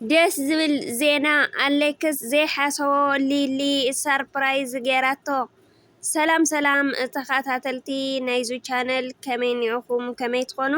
ደስ ዝብል ዜና ኣሌክስ ዘይሓሰቦ ሊሊ ሳርፕራይዝ ገይራቶ። ሰላም ሰላም ተካታተልቲ ናይዙ ቻነል ከመይ እኒኩም ከመይ ትኮኑ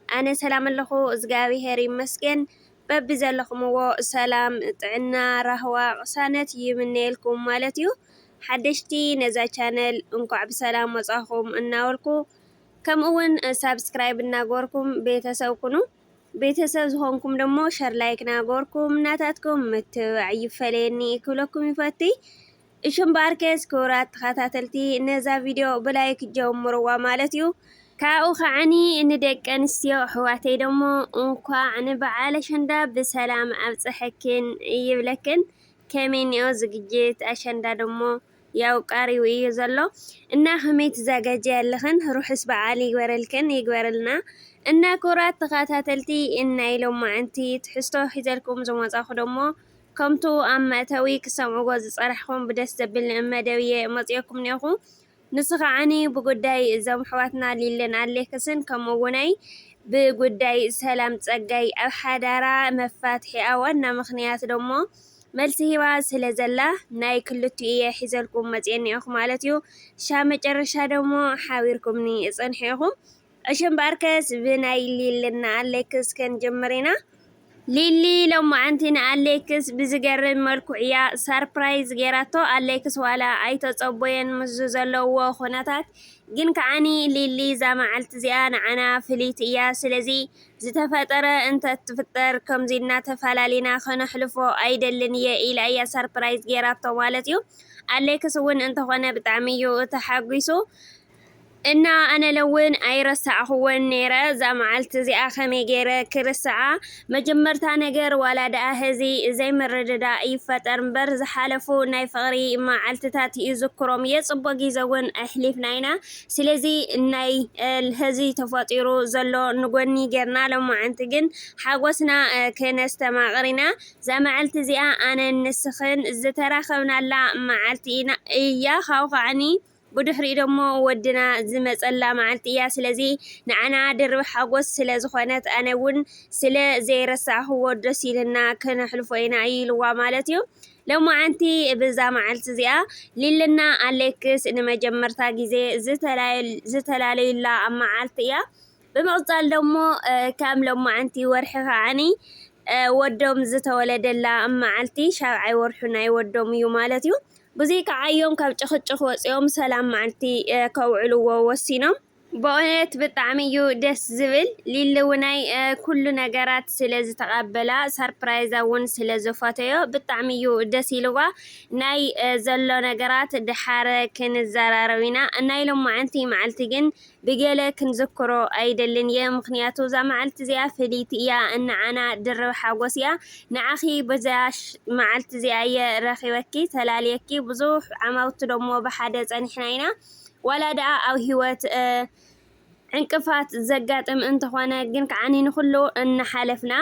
ኣነ ሰላም ኣለኩ እዝግኣብሄር ይመስገን በቢ ዘለኩምዎ ሰላም ጥዕና ራህዋ ቅሳነት ይምነየልኩም ማለት እዩ ሓደሽቲ ነዛ ቻነል እንኳዕ ብሰላም መፃኩም እናበልኩ ከምኡ እውን ሳብስክራይብ እናገበርኩም ቤተሰብ ኩኑ። ቤተሰብ ዝኾንኩም ደሞ ሸር ላይክ ናገበርኩም ናታትኩም ምትብባዕ ይፈለየኒ ክብለኩም ይፈቲ። እሺ እምበኣር ከስ ክቡራት ተኸታተልቲ ነዛ ቪድዮ ብላይክ ጀምርዋ ማለት እዩ። ካብኡ ከዓኒ ንደቂ ኣንስትዮ ኣሕዋተይ ደሞ እንኳዕ ንበዓል ኣሸንዳ ብሰላም ኣብፀሐክን ይብለክን። ከመይ እኒኦ ዝግጅት ኣሸንዳ ደሞ ያው ቀሪቡ እዩ ዘሎ እና ከመይ ትዛጋጀይ ኣለኽን ሩሑስ በዓል ይግበረልክን ይግበረልና እና ክብራት ተኻታተልቲ ናይ ሎማዓንቲ ትሕዝቶ ሒዘልኩም ዝመጻኹ ደሞ ከምቱ ኣብ መእተዊ ክትሰምዕዎ ዝጸናሕኹም ብደስ ዘብል መደብ እየ መጺኦኩም ኔኹ ንሱ ከዓኒ ብጉዳይ እዞም ኣሕዋትና ሊልን ኣሌክስን ከምኡ እውናይ ብጉዳይ ሰላም ጸጋይ ኣብ ሓዳራ መፋትሒኣ ዋና ምኽንያት ደሞ መልሲ ሂባ ስለ ዘላ ናይ ክልቲኡ ኢየ ሒዘልኩም መጽየ እኒኦኹ ማለት እዩ። ክሻብ መጨረሻ ደሞ ሓቢርኩምኒ እጸንሑ ኢኹም። እሺ እምበኣርከስ ብናይ ሊሊ እና ኣሌክስ ክንጅምር ኢና። ሊሊ ሎማዓንቲ ንኣሌክስ ብዝገርም መልኩዕ እያ ሳርፕራይዝ ጌራቶ ኣሌክስ ዋላ ኣይተጸቦየን ምስዙ ዘለውዎ ኩነታት ግን ከዓኒ ሊሊ እዛ መዓልቲ እዚኣ ንዓና ፍልይቲ እያ ስለዚ ዝተፈጠረ እንተትፍጠር ከምዚ እናተፈላሊና ከነሕልፎ ኣይደልን እየ ኢላ እያ ሰርፕራይዝ ጌራቶ ማለት እዩ። ኣሌክስ እውን እንተኾነ ብጣዕሚ እዩ ተሓጒሱ። እና ኣነ ለውን ኣይረሳዕኹዎን ነይረ እዛ መዓልቲ እዚኣ ከመይ ገይረ ክርስዓ መጀመርታ ነገር ዋላ ደኣ ህዚ ዘይምርድዳእ ይፈጠር እምበር ዝሓለፉ ናይ ፍቕሪ መዓልትታት ይዝክሮም እየ ጽቡቕ ግዜ እውን ኣሕሊፍና ኢና ስለዚ ናይ ሀዚ ተፈጢሩ ዘሎ ንጎኒ ጌርና ሎማዓንቲ ግን ሓጎስና ክነስተማቕር ኢና። እዛ መዐልቲ እዚኣ ኣነን ንስኽን ዝተራኸብናላ መዓልቲ እያ ካብኡ ከዓኒ ብድሕሪኡ ደሞ ወድና ዝመጸላ መዓልቲ እያ ስለዚ ንዓና ድርብ ሓጎስ ስለዝኾነት ኣነ ውን ስለ ዘይረሳዕክዎ ደስ ኢሉና ክነሕልፎ ኢና ኢልዋ ማለት እዩ። ሎማዓንቲ ብዛ መዓልቲ እዚኣ ሊሊና ኣሌክስ ንመጀመርታ ግዜ ዝተላለዩላ መዓልቲ እያ። ብምቕፃል ደሞ ከም ሎማዓንቲ ወርሒ ከዓኒ ወዶም ዝተወለደላ መዓልቲ ሻብዓይ ወርሑ ናይ ወዶም እዩ ማለት እዩ። ብዙይ ከዓዮም ካብ ጭኽጭኽ ወፂኦም ሰላም መዓልቲ ከውዕልዎ ወሲኖም። በኡነት ብጣዕሚ እዩ ደስ ዝብል ሊሊ ውናይ ኩሉ ነገራት ስለ ዝተቀበላ ሰርፕራይዛ እውን ስለ ዝፈተዮ ብጣዕሚ እዩ ደስ ኢልዋ ናይ ዘሎ ነገራት ድሓረ ክንዘራረብ ኢና ናይ ሎማዓንቲ መዓልቲ ግን ብገለ ክንዝክሮ ኣይደልን እየ ምክንያቱ እዛ መዓልቲ እዚኣ ፍልይቲ እያ እንዓና ድርብ ሓጎስ እያ ንዓኺ በዛ መዓልቲ እዚኣ እየ ረኪበኪ ተላልየኪ ብዙሕ ዓማውቲ ደሞ ብሓደ ፀኒሕና ኢና ዋላ ድኣ ኣብ ሂወት ዕንቅፋት ዘጋጥም እንተኾነ ግን ከዓኒ ንኹሉ እናሓለፍና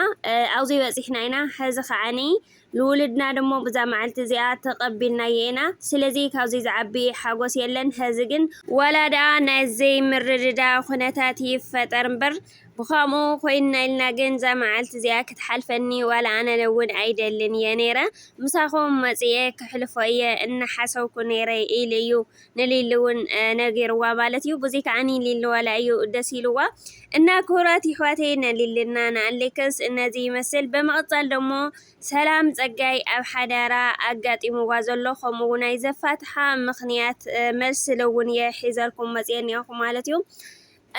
ኣብዚ በጺሕና ኢና። ሕዚ ከዓኒ ንውሉድና ድሞ ብዛ መዓልቲ እዚኣ ተቐቢልናዮ ኢና። ስለዚ ካብዚ ዝዓቢ ሓጎስ የለን። ሕዚ ግን ዋላ ድኣ ናይ ዘይምርድዳእ ኩነታት ይፈጠር እምበር ብኸምኡ ኮይንና ኢልና ግን እዛ መዓልቲ እዚኣ ክትሓልፈኒ ዋላ ኣነ እውን ኣይደልን እየ ነይረ። ምሳኹም መጺኤ ከሕልፎ እየ እናሓሰብኩ ነይረ ኢሉ እዩ። ንሊሊ ውን ነጊርዋ ማለት እዩ ቡዚ ካዓ ንሊሊ ዋላ እዩ ደስ ኢልዋ እና ክቡራት ይሕዋተይ ንሊልና ንኣሌክስ እነዚ ይመስል በመቅፃል ደሞ ሰላም ፀጋይ ኣብ ሓዳራ ኣጋጢምዋ ዘሎ ከምኡ ውን ናይ ዘፋትሓ ምክንያት መልሲ ልውን እየ ሒዘልኩም መፅየ እኒኣኩ ማለት እዩ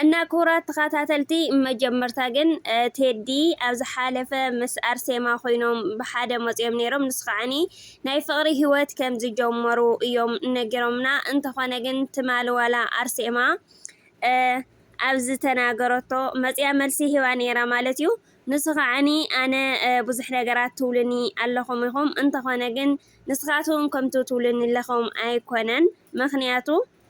እና ክቡራት ተኻታተልቲ መጀመርታ ግን ቴዲ ኣብ ዝሓለፈ ምስ ኣርሴማ ኮይኖም ብሓደ መጽዮም ኔሮም ንሱ ከዓኒ ናይ ፍቅሪ ሂወት ከም ዝጀመሩ እዮም ነጊሮምና እንተኾነ ግን ትማሊ ዋላ ኣርሴማ ኣብ ዝተናገረቶ መጽያ መልሲ ሂባ ኔራ ማለት እዩ ንሱ ከዓኒ ኣነ ብዙሕ ነገራት ትብሉኒ ኣለኹም ኢኹም እንተኾነ ግን ንስኻትኩም ከምቲ ትብሉኒ ለኹም ኣይኮነን ምኽንያቱ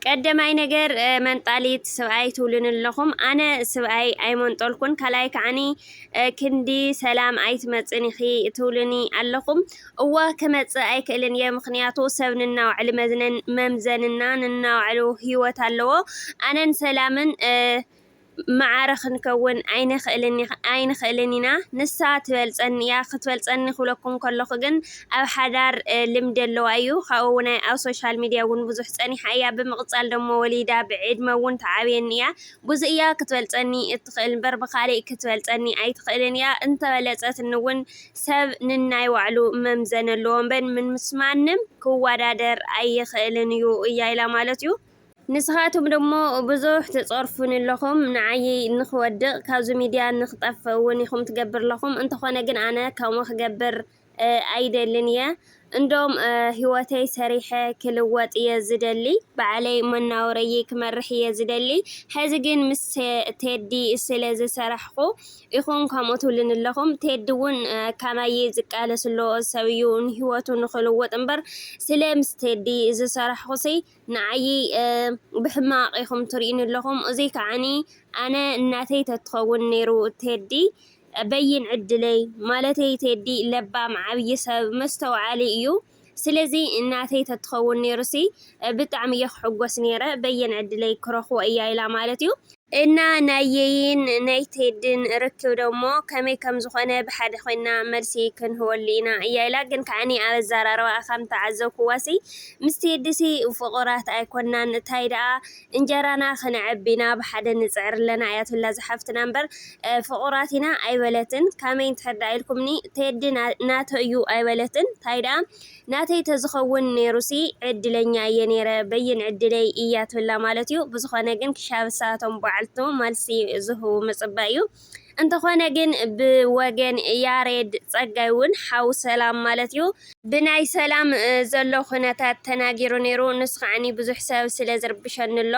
ቀደማይ ነገር መንጣሊት ስብኣይ ትብሉኒ ኣለኹም ኣነ ስብኣይ ኣይመንጠልኩን ካልኣይ ከዓኒ ክንዲ ሰላም ኣይትመጽን ኢኺ ትብሉኒ ኣለኹም እወ ክመጽእ ኣይክእልን እየ ምክንያቱ ሰብ ንናባዕሉ መዝነን መምዘንና ንናባዕሉ ሂወት ኣለዎ ኣነን ሰላምን መዓረ ክንከውን ኣይንኽእልን ኢና፣ ንሳ ትበልጸኒ እያ፣ ክትበልጸኒ ክብለኩም ከለኹ ግን ኣብ ሓዳር ልምዲ ኣለዋ እዩ፣ ካብኡ ውን ኣብ ሶሻል ሚድያ ውን ብዙሕ ጸኒሓ እያ፣ ብምቕጻል ደሞ ወሊዳ ብዕድመ ውን ትዓብየኒ እያ፣ ብዙ እያ ክትበልጸኒ እትኽእል ምበር ብኻሊእ ክትበልጸኒ ኣይትኽእልን እያ፣ እንተበለጸትኒ ውን ሰብ ንናይ ባዕሉ መምዘኒ ኣለዎ ምበር ምስ ማንም ክዋዳደር ኣይኽእልን እዩ እያ ኢላ ማለት እዩ። ንስኻትኩም ደሞ ብዙሕ ትጸርፉኒ ኣለኹም ንዓይ ንኽወድቅ ካብዚ ሚድያ ንኽጠፍእ እውን ኢኹም ትገብር ኣለኹም እንተኾነ ግን ኣነ ከምኡ ክገብር ኣይደልን እየ እንዶም ሂወተይ ሰሪሐ ክልወጥ እየ ዝደሊ ባዕለይ መናውረይይ ክመርሕ እየ ዝደሊ ሕዚ ግን ምስ ቴዲ ስለ ዝሰራሕኹ ኢኹም ከምኡ ትብሉኒ ኣለኹም ቴዲ እውን ካማይይ ዝቃለስ ኣሎ ሰብ እዩ ንሂወቱ ንኽልውጥ እምበር ስለ ምስ ቴዲ ዝሰራሕኹሲ ንዓይ ብሕማቅ ኢኩም ትሪኡኒ ኣለኩም እዙይ ከዓኒ ኣነ እናተይ ተትከውን ነይሩ ቴዲ በይን ዕድለይ ማለተይ ቴዲ ለባም ዓብይ ሰብ መስተውዓሊ እዩ ስለዚ እናተይ ተትከውን ነይሩሲ ብጣዕሚ እየ ክሕጎስ ነይረ በየን ዕድለይ ክረክቦ እያ ኢላ ማለት እዩ። እና ናይ የይን ናይ ቴድን ርክብ ደሞ ከመይ ከም ዝኾነ ብሓደ ኮይንና መልሲ ክንህበሉ ኢና እያ ኢላ ግን ከዓኒ ኣብ ኣዛራርባኣ ከም ተዓዘብኩዋሲ ምስ ቴዲሲ ፍቁራት ኣይኮናን እታይ ደኣ እንጀራና ክነዕቢ ኢና ብሓደ ንጽዕር ኣለና እያ ትብላ ዝሓፍትና እምበር ፍቁራት ኢና ኣይበለትን ካመይ እንድሕር ደኣ ኢልኩምኒ ቴዲ ናተይ እዩ ኣይበለትን ታይ ደኣ ናተይ ተዝኸውን ኔሩሲ ዕድለኛ እየ ኔረ በይን ዕድለይ እያ ትብላ ማለት እዩ ብዝኾነ ግን ክሻብ እሳቶም ባዓልቱ መልሲ ዝህቡ ምጽባይ እዩ እንተኾነ ግን ብወገን ያሬድ ጸጋይ ውን ሓው ሰላም ማለት እዩ ብናይ ሰላም ዘሎ ኩነታት ተናጊሩ ኔሩ ንሱ ከዓኒ ብዙሕ ሰብ ስለ ዝርብሸኒ ኣሎ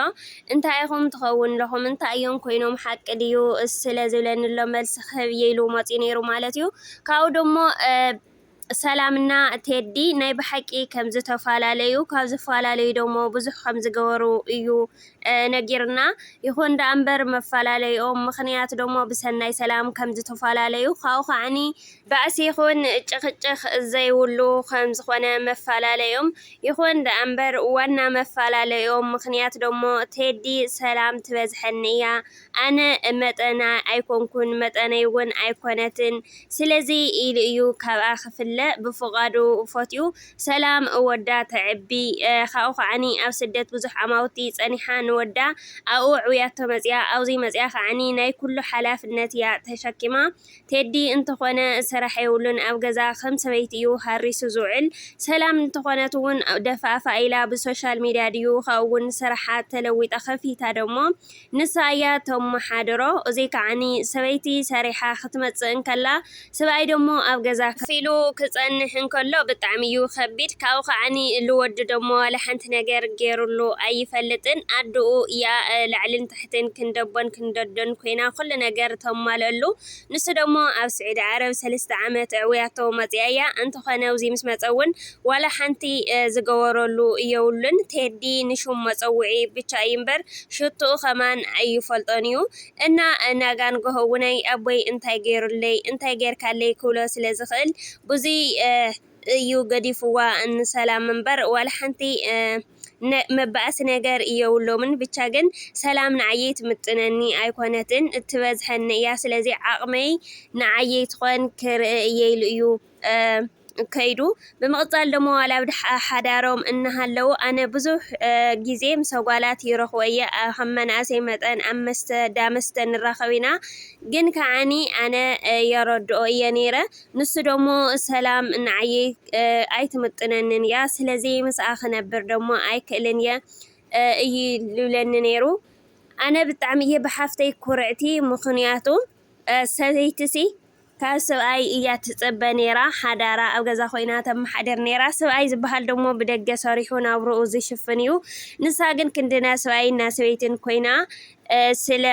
እንታይ ኢኹም ትኸውን ለኹም እንታይ እዮም ኮይኖም ሓቂ ድዩ ስለ ዝብለኒ ኣሎ መልሲ ክህብ እየ ኢሉ መጽዩ ኔሩ ማለት እዩ ካብኡ ደሞ ሰላም እና ቴዲ ናይ ብሓቂ ከም ዝተፋላለዩ ካብ ዝፋላለዩ ደሞ ብዙሕ ከም ዝገበሩ እዩ ነጊርና ይኩን ዳኣ እምበር መፋላለይኦም ምክንያት ደሞ ብሰናይ ሰላም ከም ዝተፋላለዩ ካብኡ ካዓኒ ባእሲ ይኩን ጭክጭክ ዘይብሉ ከም ዝኮነ መፋላለይኦም ይኩን ዳኣ እምበር ዋና መፋላለይኦም ምክንያት ደሞ ቴዲ ሰላም ትበዝሐኒ እያ ኣነ መጠና ኣይኮንኩን መጠነይ'ውን ኣይኮነትን ስለዚ ኢሉ እዩ ካብኣ ክፍለ ብፍቓዱ ፈትዩ ሰላም ወዳ ተዕቢ ካብኡ ከዓኒ ኣብ ስደት ብዙሕ ኣማውቲ ጸኒሓ ንወዳ ኣብኡ ኣዕብያቶ መጽያ ኣብዙይ መጽያ ከዓኒ ናይ ኩሉ ሓላፍነት እያ ተሸኪማ ቴዲ እንተኾነ ስራሕ የብሉን ኣብ ገዛ ከም ሰበይቲ እዩ ሃሪሱ ዝውዕል ሰላም እንተኾነት ውን ደፋእፋእ ኢላ ብሶሻል ሚድያ ድዩ ካብኡ ውን ስራሓ ተለዊጣ ከፊታ ደሞ ንሳ እያ ተማሓድሮ እዙይ ከዓኒ ሰበይቲ ሰሪሓ ክትመፅእ እንከላ ስብኣይ ደሞ ኣብ ገዛ ከፍ ኢሉ ክፀንሕ እንከሎ ብጣዕሚ እዩ ከቢድ ካብኡ ከዓኒ ልወዲ ደሞ ዋላ ሓንቲ ነገር ገይሩሉ ኣይፈልጥን ኣዱኡ እያ ላዕልን እተን ክንደቦን ክንደዶን ኮይና ኩሉ ነገር ተማልኣሉ ንሱ ደሞ ኣብ ስዑዲ ዓረብ ሰልስተ ዓመት ኣዕዊያቶ መጺኣያ እንተኮነ ኣብዚ ምስ መጸ ውን ዋላ ሓንቲ ዝገበረሉ የብሉን ቴዲ ንሹም መጸውዒ ብቻ እዩ እምበር ሽትኡ ከማን ኣይፈልጦን እዩ እና ናጋንጎሆ ውን ኣቦይ እንታይ ገይሩለይ እንታይ ገይርካለይ ክብሎ ስለ ዝክእል ብዙይ እዩ ገዲፍዋ ን ሰላም እምበር ዋላ ሓንቲ መባኣሲ ነገር የብሎምን ብቻ ግን ሰላም ንዓየይ ትምጥነኒ ኣይኮነትን ትበዝሐኒ እያ ስለዚ ዓቅመይ ንዓየይ ትኮን ክርእ እየ ኢሉ እዩ ከይዱ ብምቅፃል ደሞ ዋላ ኣብ ሓዳሮም እናሃለው ኣነ ብዙሕ ግዜ ምሰ ጓላት ይረክቦ እየ ከም መናእሰይ መጠን ኣብ መስተ ዳመስተ ንራከብ ኢና ግን ካዓኒ ኣነ የረድኦ እየ ነይረ ንሱ ደሞ ሰላም ንዓየይ ኣይትምጥነንን እያ፣ ስለዚ ምስኣ ክነብር ደሞ ኣይክእልን እየ እዩ ልብለኒ ነይሩ። ኣነ ብጣዕሚ እየ ብሓፍተይ ኩርዕቲ ምኽንያቱ ሰበይቲሲ ካብ ሰብኣይ እያ ትጽበ ነይራ ሓዳራ ኣብ ገዛ ኮይና ተመሓድር ነይራ ሰብኣይ ዝበሃል ደሞ ብደገ ሰሪሑ ናብርኡ ዝሽፍን እዩ ንሳ ግን ክንድና ሰብኣይን ናሰበይትን ኮይና ስለ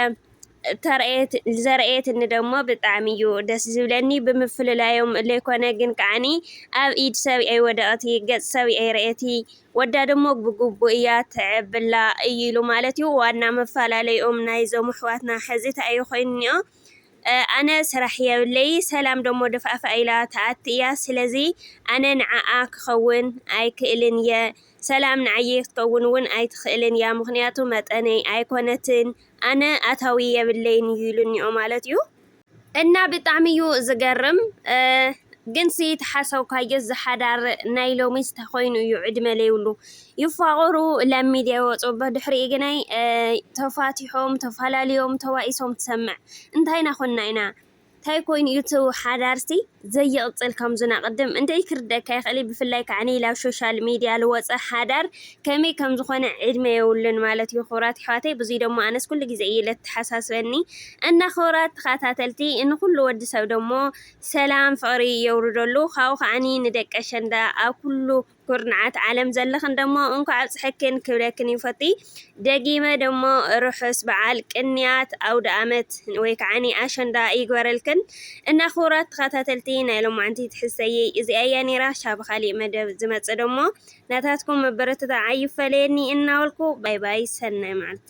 ዘርኣየትኒ ደሞ ብጣዕሚ ዩ ደስ ዝብለኒ ብምፍልላዮም ለይኮነ ግን ከዓኒ ኣብ ኢድ ሰብ ኣይወደቀቲ ገፅ ሰብ ኣይረኣየቲ ወዳ ደሞ ብግቡእ እያ ተዕብላ እይሉ ማለት ዩ ዋና መፋላለይኦም ናይዞም ኣሕዋትና ሕዚ ታኣዩ ኮይኑ ኒኦ ኣነ ስራሕ የብለይ ሰላም ደሞ ድፋእፋእ ኢላ ታኣቲ እያ ስለዚ ኣነ ንዓኣ ክከውን ኣይክእልን እየ ሰላም ንዓየይ ክትከውን ውን ኣይትክእልን እያ ምክንያቱ መጠነይ ኣይኮነትን ኣነ ኣታዊ የብለይን እዩ ኢሉኒኦ ማለት እዩ እና ብጣዕሚ እዩ ዝገርም ግንሲ ተሓሰብካዮስ ዝሓዳር ናይ ሎሚስ ተኮይኑ እዩ ዕድመ ለይብሉ ይፋቀሩ ላብ ሚድያ ይወፁ ብድሕሪኡ ግናይ ተፋቲሖም ተፋላልዮም ተባኢሶም ትሰምዕ እንታይና ኮንና ኢና ታይ ኮይኑ እዩ እቲ ሓዳርሲ ዘይቅፅል ከምዙ ናቅድም እንደይ ክርደካ ይክእል እዩ ብፍላይ ካዓ ነይለ ኣብ ሾሻል ሚድያ ልወፀ ሓዳር ከመይ ከምዝኮነ ዕድመ የብሉን ማለት እዩ ክብራት ይሕዋተይ ብዙይ ደሞ ኣነስ ኩሉ ግዜ እዩ ለተሓሳስበኒ እና ክብራት ተካታተልቲ እንኩሉ ወዲ ሰብ ደሞ ሰላም ፍቅሪ የውርደሉ ካኡ ካዓ ንደቂ ኣሸንዳ ኣብ ኩሉ ኩርናዓት ዓለም ዘለኽን ደሞ እንኳዕ ኣብፀሐክን ክብለክን ይፈቲ ደጊመ ደሞ ርሑስ በዓል ቅንያት ኣውደኣመት ወይ ከዓኒ ኣሸንዳ ይግበረልክን እና ክቡራት ተኸታተልቲ ናይ ሎማዓንቲ ትሕዝተየይ እዚኣ እያ ነይራ ሻብ ካሊእ መደብ ዝመፅእ ደሞ ናታትኩም ምብርትታዕ ኣይፈለየኒ እናበልኩ ባይ ባይ ሰናይ መዓልቲ